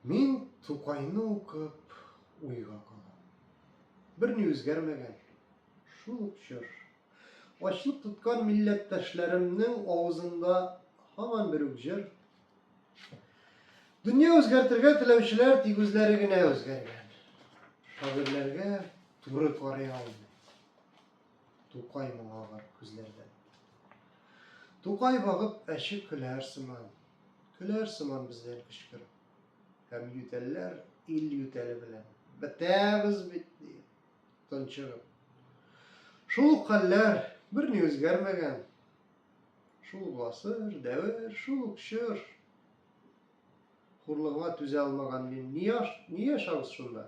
Мин Тукайны укып уйга калам. Берни үзгәрмәгән, шул ук чор. Ачлык тоткан милләттәшләремнең авызында һаман бер үк җыр. Дөнья үзгәртергә теләүчеләр тик үзләре генә үзгәргән. Шагыйрьләргә туры карый алмый. Тукай моңа бар күзләрдән. Тукай багып әче көләр сыман. Көләр сыман бездән кычкырып. Һәм ютәлләр ил ютәле белән. Бетәбез бит, диеп, тончыгып. Шул ук хәлләр, берни үзгәрмәгән. Шул ук гасыр, дәвер, шул ук чор. Хурлыгыңа түзә алмаган мин. Ни яшабыз шунда?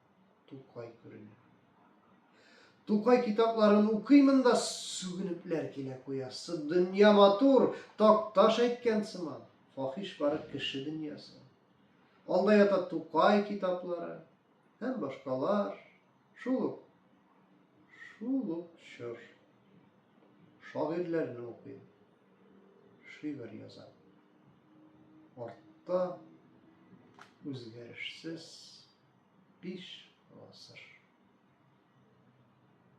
Тукай күренә. Тукай китапларын укыймын да сүгенепләр килә куясы. Дөнья матур, такташ әйткән сыман. Фахиш бары кеше дөньясы. Алда ята Тукай китаплары һәм башкалар. Шул ук, шул ук чор. Шагыйрьләрне укыйм. Шигырь язам. Артта үзгәрешсез биш гасыр.